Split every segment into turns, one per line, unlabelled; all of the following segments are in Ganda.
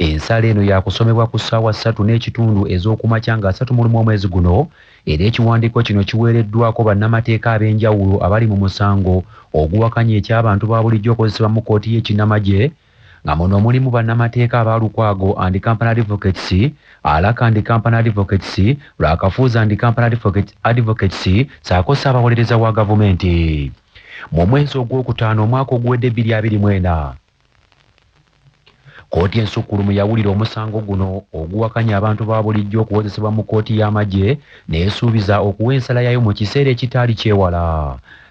Ensala eno yakusomebwa ku ssaawa ssatu n'ekitundu ez'okumakya nga asatu mulumu omwezi guno era ekiwandiiko kino kiweereddwako bannamateeka ab'enjawulo abali mu musango oguwakanya eky'abantu babulijjo okozesebwa mu kkooti y'ekinnamagye nga muno mulimu bannamateeka aba Lukwago and Company Advocates, Alaka and Company Advocates, Lwakafuuzi and Company Advocates saako Ssaabawolereza wa gavumenti. Mu mwezi ogw'okutaano omwaka oguwedde bbiri abiri mw'ena, Kkooti ensukkulumu yawulira omusango guno oguwakanya abantu ba bulijjo okuwozesebwa mu kkooti y'amagye n'esuubiza okuwa ensala yaayo mu kiseera ekitaali kyewala.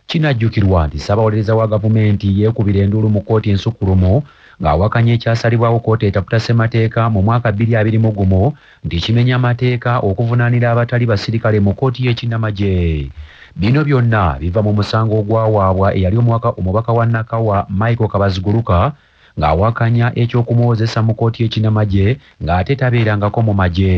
Kinajjukirwa nti Ssabawolereza wa gavumenti yeekubira enduulu mu kkooti ensukkulumu ng'awakanya ekyasalibwawo kkooti etaputa ssemateeka mu mwaka bbiri abiri mu gumu nti kimenya mateeka okuvunaanira abatali basirikale mu kkooti y'ekinnamagye. Bino byonna biva mu musango ogwawaabwa eyali omubaka omubaka wa Nakawa Michael Kabaziguruka ng'awakanya eky'okumuwozesa mu kkooti y'ekinnamagye ng'ate tabeerangako mu magye.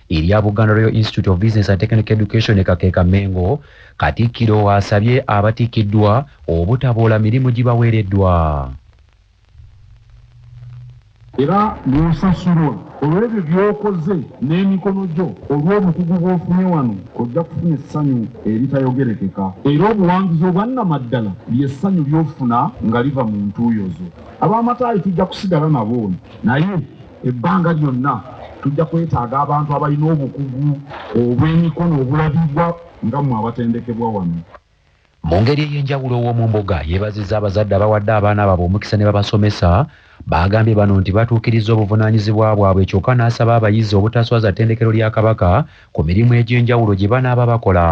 erya Buganda Royal Institute of Business and Technical Education e Kakeeka Mengo, Katikkiro asabye abatikkiddwa obutaboola mirimu gibaweereddwa.
Era bw'osasulwa olw'ebyo by'okoze n'emikono gyo, olw'obukugu bw'ofunye wano, ojja kufuna essanyu eritayogerekeka. Era obuwanguzi obwannamaddala lye ssanyu ly'ofuna nga liva mu ntuuyo zo. Ab'amataayi tujja kusigala nabo naye. Ebbanga lyonna tujja kwetaaga abantu abalina obukugu obw'emikono obulabibwa nga mmwe abatendekebwa wano. Mu ngeri
ey'enjawulo Owomumboga yeebazizza abazadde abawadde abaana baabwe omukisa ne babasomesa Baagambye bano nti batuukirizza obuvunaanyizibwa bwabwe kyokka n'asaba abayizi obutaswaza ttendekero lya Kabaka ku mirimu egy'enjawulo gye banaaba bakola.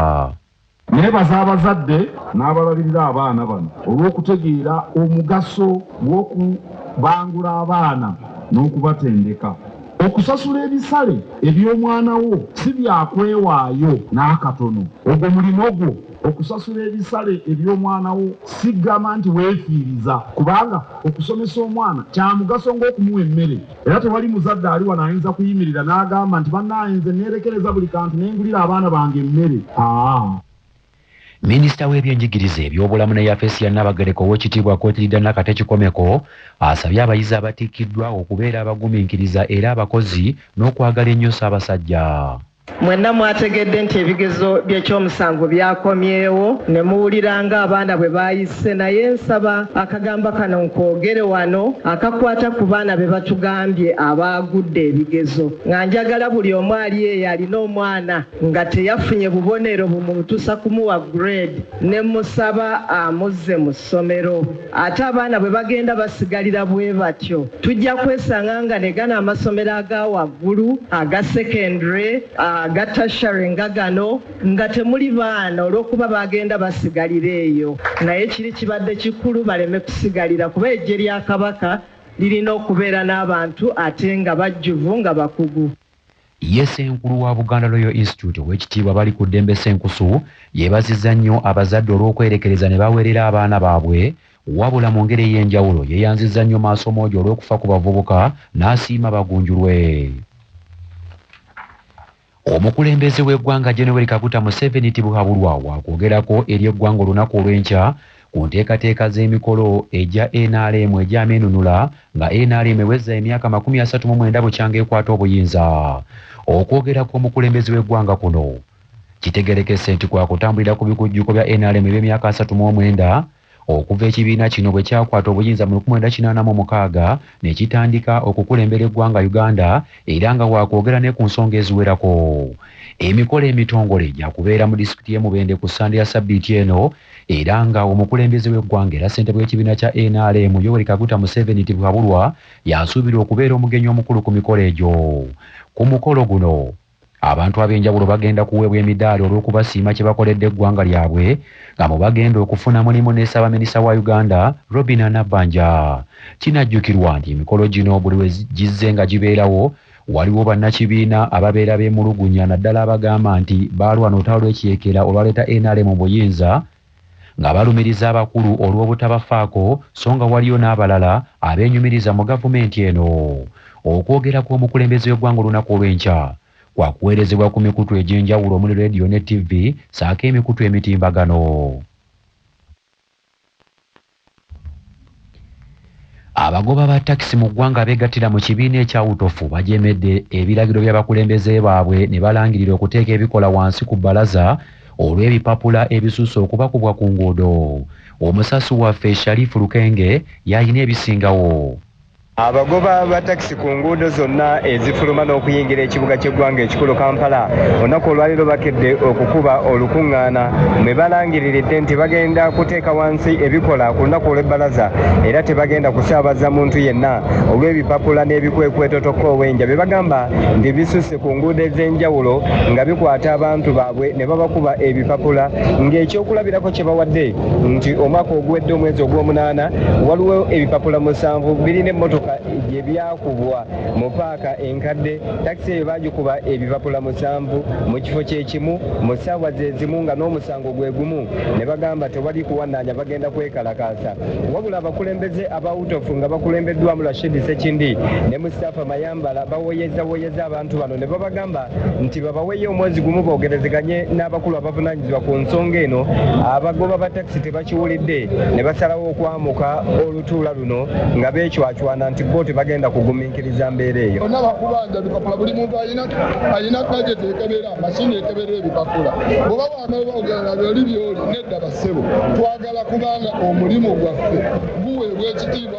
Nneebaza
abazadde n'abalabirira abaana bano olw'okutegeera omugaso gw'okubangula abaana n'okubatendeka. Okusasula ebisale eby'omwana wo si bya kwewaayo n'akatono. Ogwo mulimo gwo. Okusasula ebisale eby'omwana wo si kugamba nti weefiiriza, kubanga okusomesa omwana kya mugaso ng'okumuwa emmere. Era tewali muzadde ali wano ayinza kuyimirira n'agamba nti, Bannaaye, nze nneerekereza buli kantu ne ngulira abaana bange emmere. Aa.
Minisita w'ebyenjigiriza, ebyobulamu ne yafeesi ya Nnaabagereka Oweekitiibwa Cotilida Nakate Kikomeko asabye abayizi abatikkiddwa okubeera abagumiikiriza era abakozi n'okwagala ennyo Ssaabasajja. Mwenna
mwategedde nti ebigezo by'ekyomusanvu byakomyewo ne muwulira ng'abaana bwe baayise naye nsaba akagambo kano nkoogere wano akakwata ku baana be batugambye abaagudde ebigezo nga njagala buli omu ali eyo alina omwana nga teyafunye bubonero bumutusa kumuwa grade ne mmusaba amuzze mu ssomero. Ate abaana bwe bagenda basigalira bwe batyo, tujja kwesanga nga ne gano amasomero aga waggulu, aga secondary, aga tertiary nga gano, nga temuli baana olw'okuba bagenda basigalira eyo. Naye kiri kibadde kikulu baleme kusigalira kuba eggye lya Kabaka lirina okubeera n'abantu ate nga bajjuvu nga bakugu. Ye
Ssenkulu wa Buganda Royal Institute Owekitiibwa Balikuddembe Ssenkusu yebazizza nnyo abazadde olw'okwerekereza ne baweerera abaana baabwe wabula mu ngeri ey'enjawulo yeyanzizza nnyo Maasomoogi olw'okufa ku bavubuka n'asiima bagunjulwe Omukulembeze w'eggwanga Gen Yoweri Kaguta Museveni Tibuhaburwa wakwogerako eri eggwanga olunaku olw'enkya ku nteekateeka z'emikolo egya nrm egy'amenunula nga nrm ewezza emyaka makumi asatu mu mwenda bukyanga ekwata obuyinza. Okwogera kw'omukulembeze w'eggwanga kuno kitegerekese nti kwakutambulira ku bikujjuko bya nrm eby'emyaka asatu mu omwenda okuva ekibiina kino bwe kyakwata obuyinza mu lukumi lwenda kinaana mu mukaaga ne kitandika okukulembera eggwanga Uganda era nga waakwogera ne ku nsonga eziwerako. Emikolo emitongole gyakubeera mu disitulikiti y'e Mubende ku Ssande ya ssabbiiti eno. era nga omukulembeze w'eggwanga era ssentebe w'ekibiina kya nrm Yoweri Kaguta Museveni Tibuhaburwa y'asuubirwa okubeera omugenyi omukulu ku mikolo egyo. Ku mukolo guno, abantu ab'enjawulo bagenda kuweebwa emidaali olw'okubasiima kye bakoledde eggwanga lyabwe nga mu bagenda okufuna mulimu ne Ssaabaminisita wa Uganda, Robinah Nabbanja. Kinajjukirwa nti emikolo gino buli lwe gizze nga gibeerawo, Waliwo bannakibiina ababeera beemulugunya naddala abagamba nti baalwana olutalo lw'ekiyeekera olwaleeta nrm mu buyinza nga balumiriza abakulu olw'obutabafaako so nga waliyo n'abalala abeenyumiriza mu gavumenti eno. Okwogera kw'omukulembeze w'eggwanga olunaku olw'enkya kwakuweerezebwa ku mikutu egy'enjawulo omuli leediyo ne ttivvi ssaako emikutu emitimbagano. Abagoba ba takisi mu ggwanga abeegattira mu kibiina ekya UTOFU bajeemedde ebiragiro by'abakulembeze baabwe ne balangirira okuteeka ebikola wansi ku bbalaza olw'ebipapula ebisusse okubakubwa ku nguudo. Omusasi waffe Sharif Lukenge y'alina ebisingawo. Abagoba
ba takisi ku nguudo zonna ezifuluma n'okuyingira ekibuga ky'eggwanga ekikulu Kampala olunaku olwaliro bakedde okukuba olukungaana mwe balangiriridde nti bagenda kuteeka wansi ebikola ku lunaku olw'ebbalaza era tebagenda kusaabaza muntu yenna olw'ebipapula n'ebikwekweto tokoowenja bye bagamba nti bisusse ku nguudo ez'enjawulo nga bikwata abantu baabwe ne babakuba ebipapula ng'ekyokulabirako kye bawadde nti omwaka oguwedde omwezi ogw'omunaana waliwo ebipapula musanvu birina emmotoka gye byakubwa mu paaka enkadde takisi eyo baagikuba ebipapula musanvu mu kifo kye kimu mu ssaawa ze zimu nga n'omusango gwe gumu ne bagamba tewali kuwannaanya bagenda kwekalakaasa wabula abakulembeze aba utofu nga bakulembeddwamu rashid sekindi ne mustapha mayamba Bambala bawoyezawoyeza abantu bano ne babagamba nti babaweeyo omwezi gumu boogerezeganye n'abakulu abavunaanyizibwa ku nsonga eno. Abagoba ba takisi tebakiwulidde ne basalawo okwamuka olutuula luno nga beecwacwana nti bbo tebagenda kugumiikiriza mbeera eyo. Bonna bakubanja bipapula,
buli muntu alina gadgeti ekebera, masiini ekebera ebipapula. Bw'oba wamala bakugaana byoli byoli. Nedda bassebo, twagala kuba nga omulimu gwaffe guweebwa ekitiibwa.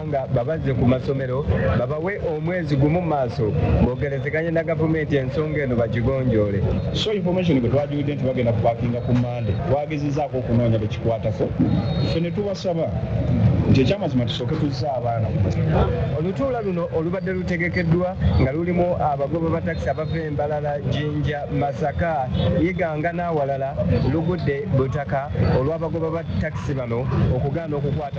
nga babazze ku masomero babawe omwezi gumu maaso bogerezeganye na gavumenti ensonga eno bagigonjoole. So information
bwe twagiwudde nti bagenda kupakinga ku Mmande twagezezaako okunoonya be kikwatako ffe ne tubasaba nti ekyamazima tusooke tuzze abaana ku masomero. Olutuula
luno olubadde lutegekeddwa nga lulimu abagoba ba takisi abava e Mbarara, Jinja, Masaka, Iganga n'awalala lugudde butaka olw'abagoba ba takisi bano okugaana okukwata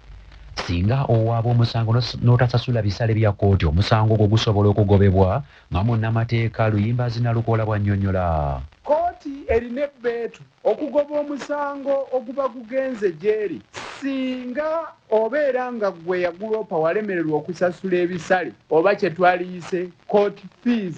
Singa
owaaba omusango n'otasasula bisale bya kkooti omusango gwo gusobola okugobebwa nga munnamateeka Luyimbaazi Nalukoola bw'annyonnyola. Kkooti
erina ebbeetu okugoba omusango oguba gugenze gy'eri singa obeera nga ggwe eyaguloopa walemererwa okusasula ebisale oba kye twaliyise court fees.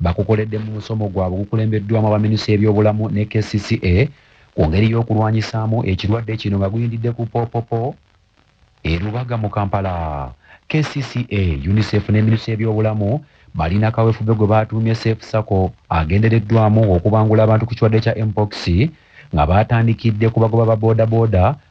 Bakukoledde mu musomo gwabwe ogukulembeddwamu abaminisita y'ebyobulamu ne kcca ku ngeri y'okulwanyisaamu ekirwadde kino nga guyindidde ku Popopo e Lubaga mu Kampala. Kcca, UNICEF ne minisitule y'ebyobulamu balina kawefube gwe baatuumye Safe Circle agendereddwamu okubangula abantu ku kirwadde kya Mpox nga baatandikidde ku bagoba ba bodaboda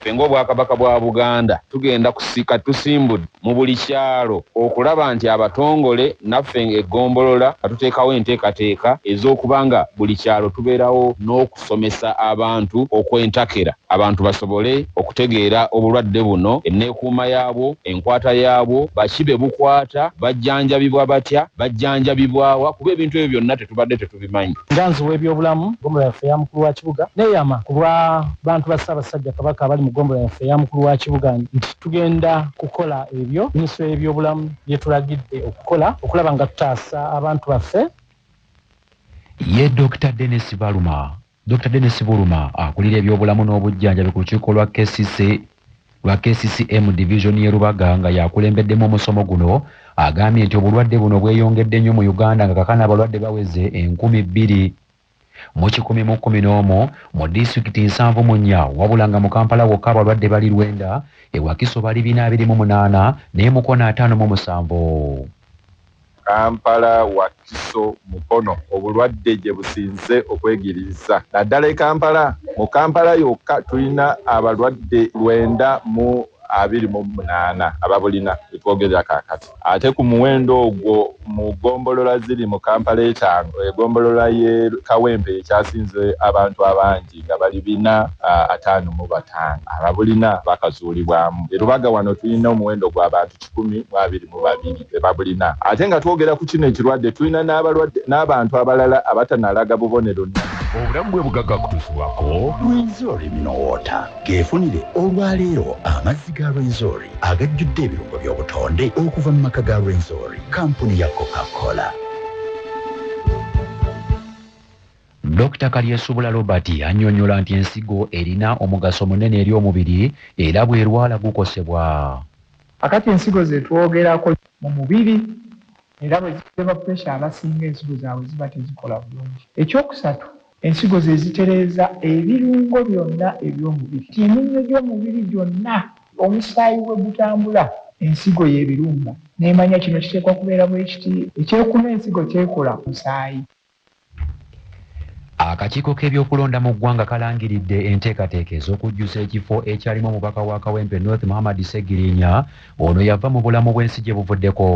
Ffe ng'Obwakabaka bwa Buganda tugenda kusika tusimbud mu buli kyalo okulaba nti abatongole naffe nga eggombolola nga tuteekawo enteekateeka ez'okuba nga buli kyalo tubeerawo n'okusomesa abantu okw'entakera abantu basobole okutegeera obulwadde buno, enneekuuma yaabwo, enkwata yaabwo, baki be bukwata, bajjanjabibwa batya, bajjanjabibwa wa kuba ebintu ebyo byonna tubadde tetubimanyi. Nganzi w'ebyobulamu
ggombolola yaffe eya Mukulu wa Kibuga neyama ku lwa bantu ba Ssaabasajja Kabaka abali mu ggombolola yaffe eya Mukulu wa Kibuga nti tugenda kukola ebyo minisitule y'ebyobulamu byetulagidde okukola okulaba nga tutaasa abantu baffe.
Ye Dokita Denis Baluma Dokita Denis Buluma akulira ebyobulamu n'obujjanjabi ku lukiiko lwa KCC lwa KCCM Division y'e Lubaga nga y'akulembeddemu omusomo guno agambye nti obulwadde buno bweyongedde nnyo mu Uganda nga kakana abalwadde baweze enkumi bbiri mu kikumi mu kkumi n'omu mu disitulikiti nsanvu mu nnya wabula nga mu Kampala wokka abalwadde bali lwenda e Wakiso bali bina abiri mu munaana n'e Mukono ataano mu musanvu.
Kampala, Wakiso, Mukono obulwadde gye businze okwegiriiza naddala e Kampala. Mu Kampala yokka tulina abalwadde lwenda mu abiri mu munaana ababulina we twogerera kaakati ate ku muwendo ogwo mu ggombolola ziri mu Kampala etaano egombolola y'e Kawempe y'ekyasinze abantu abangi nga bali bina ataano mu bataano ababulina bakazuulibwamu e Lubaga. Wano tulina omuwendo gw'abantu kikumi mu abiri mu babiri be babulina. Ate nga twogera ku kino ekirwadde, tulina n'abalwadde n'abantu abalala abatanalaga bubonero ne. Obulamu bwe
bugagga kutuusibwako Rwenzori Mineral Water. Geefunire olwa leero amazzi ga Rwenzori agajjudde ebirungo by'obutonde okuva mu maka ga Rwenzori, kkampuni ya Coca Cola.
Dokita Kalyesubula Robert annyonnyola nti ensigo erina omugaso munene eri omubiri era bw'erwala gukosebwa. Kakati
ensigo zetwogerako mu mubiri era bwe zikebwa pressure abasinga ensigo zaabwe ziba tezikola bulungi. Eky'okusatu ensigo ze zitereeza ebirungo byonna eby'omubiri. Kati eminnyo gy'omubiri gyonna omusaayi we gutambula ensigo y'ebirumba n'emanya kino kiteekwa kubeera bwekiti. Eky'okuna ensigo ky'ekola ku musaayi.
Akakiiko k'ebyokulonda mu ggwanga kalangiridde enteekateeka ez'okujjuza ekifo ekyalimu omubaka wa Kawempe North Muhammad Ssegirinya ono yava mu bulamu bw'ensi gye buvuddeko.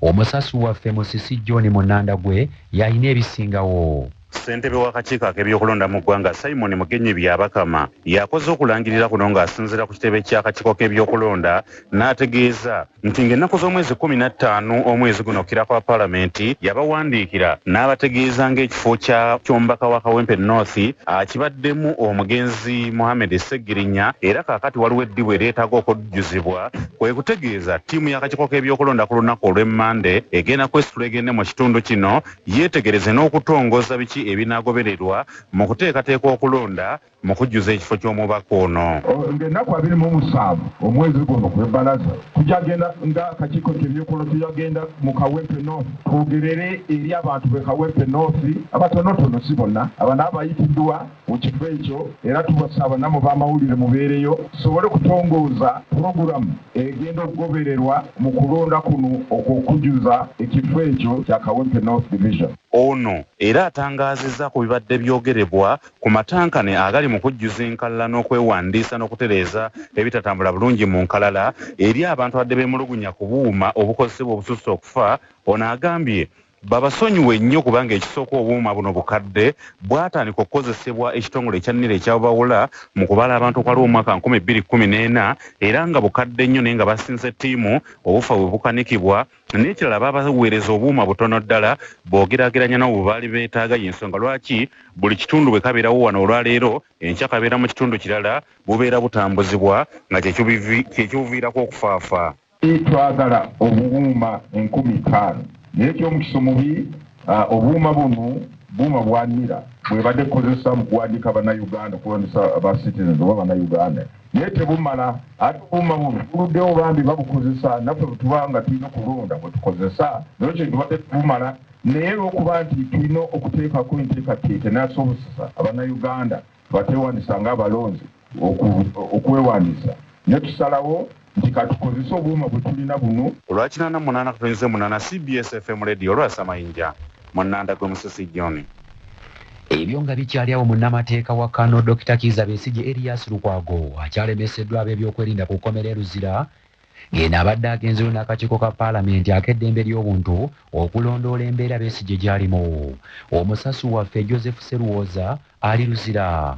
Omusasi waffe Musisi John Munandagwe y'alina ebisingawo. Ssentebe w'akakiiko
ak'ebyokulonda mu ggwanga Simon Mugenyi Byabakama y'akoze okulangirira kuno ng'asinziira ku kitebe ky'akakiiko k'ebyokulonda n'ategeeza nti ng'ennaku z'omwezi kkumi na ttaano omwezi guno kira kwa palamenti yabawandiikira n'abategeeza ng'ekifo kya ky'omubaka wa kawempe north akibaddemu omugenzi mohammed ssegirinya era kaakati waliwo eddibu eryetaaga okujjuzibwa kwe kutegeeza ttiimu y'akakiiko k'ebyokulonda ku lunaku olw'emmande egenda kwesitula egende mu kitundu kino yeetegereze n'okutongoza biki ebinaagobererwa mu kuteekateeka okulonda mu kujjuza ekifo ky'omubaka ono. Ng'ennaku abiri mu
musanvu omwezi guno gwe bbalaza tugyagenda nga akakiiko k'ebyokulonda tugyagenda mu Kawempe North twogerere eri abantu be Kawempe North abatonotono si bonna abana abayitiddwa mu kifo ekyo era tubasaba namwe b'amawulire mubeereyo tusobole okutongooza pulogulamu egenda okugobererwa mu kulonda kuno okw'okujjuza ekifo ekyo kya Kawempe North Division. Ono era
atangaazizza ku bibadde byogerebwa ku matankane agali mu kujjuza enkalala n'okwewandiisa n'okutereeza ebitatambula bulungi mu nkalala eri abantu abadde beemulugunya ku buuma obukozesebwa obususse okufa ono agambye babasonyiwe nnyo kubanga ekisooka obuuma buno bukadde bwatandika okukozesebwa ekitongole ekya nira ekyabubawula mu kubala abantu okwaliwo omwaka nkumi bbiri kkumi n'ena era nga bukadde nnyo naye nga basinze ttiimu obufa we bukanikibwa N'ekirala baabaweereza obuuma butono ddala bw'ogeraageranya n'obwo bwe baali beetaaga. Y'ensonga lwaki buli kitundu bwe kabeerawo wano olwaleero, enkya kabeera mu kitundu kirala, bubeera butambuzibwa, nga kye kibuviirako okufaafa. Twagala
obuuma enkumi ttaano. Naye eky'omukisa omubi, obuuma bunu buuma bwa nira bw'ebadde ekozesa mu kuwandiika Bannayuganda, okulondesa ba Citizens oba Bannayuganda. Naye tebumala ate obuuma bufuludewo bambi babukozesa naffe bwetuba nga tulina okulonda bwetukozesa naye ekyo tubadde tebumala naye lwokuba nti tulina okuteekako enteekateeka enasobosesa abanauganda abatewandisa nga abalonzi okwewandiisa naye tusalawo nti katukozese obuuma bwetulina bunu. Olwa kinaana munaana
katunyuze munaana cbs FM radio lwasa mayinja. mu Nanda gwe Musisi John. Ebyo
nga bikyali awo munnamateeka wa Kano Dokita Kiiza Besigye Erias Lukwago akyalemeseddwa ab'ebyokwerinda ku kkomera e Luzira ng'eno abadde agenzeyo n'akakiiko ka Palamenti ak'eddembe ly'obuntu okulondoola embeera Besigye gy'alimu. Omusasi waffe Joseph Sseruwooza ali Luzira.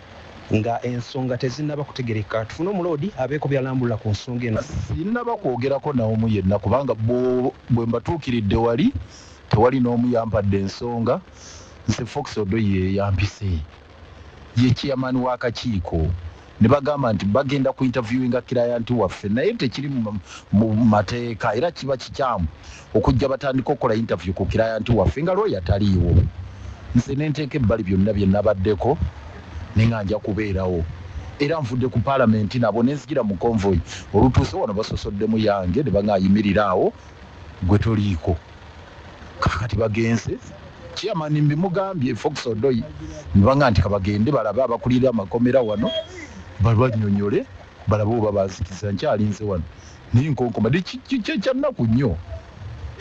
Nga ensonga tezinnaba kutegerekeka, tufune omuloodi abeeko byalambulula ku nsonga eno. Sinnaba kwogerako
naomu yenna kubanga bwo bwe mbatuukiridde wali tewali n'omu yampadde nsonga. Nze Fox Odoi yeyampise, ye chairman w'akakiiko ne bagamba nti bagenda ku interviewinga client waffe naye tekiri mu mateeka era kiba kikyamu okujja batandike okukola yintaviyu ku kilayanti waffe nga looya taliiwo, nze ne nteeka ebbali byonna bye nabaddeko ne nga nja kubeerawo era nvudde ku Palamenti nabo ne nzijira mu konvoyi olutuuse wano basosoddemu yange ne bang'amba yimirira awo gwe toliiko kaakati bagenze chairman mbimugambye Fox Odoi ne bang'amba nti kabagende balabe abakulira amakomera wano balwannyonnyole balabe oba banzikiza nkyalinze wano. naye nkonkoma de kyekyannaku nnyo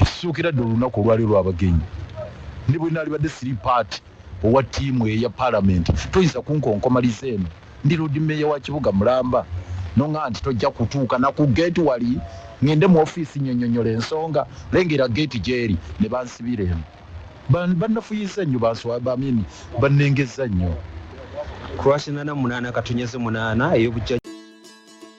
ekisookera dde olunaku olwali olwabagenyi ne bwe naalibadde siri paati owa ttiimu eyo eya palamenti toyinza kunkonkomaliza eno ndi loodi meeya wa kibuga mulamba noŋa nti tojja kutuuka naku geeti wali ŋŋende mu ofiisi nnyonnyonyola ensonga lengera geeti gy'eri ne bansibira eno bannafuyizza nnyo banswabamini
bannengezza nnyo Croatia nana munana katonyaze
munana
eyobujja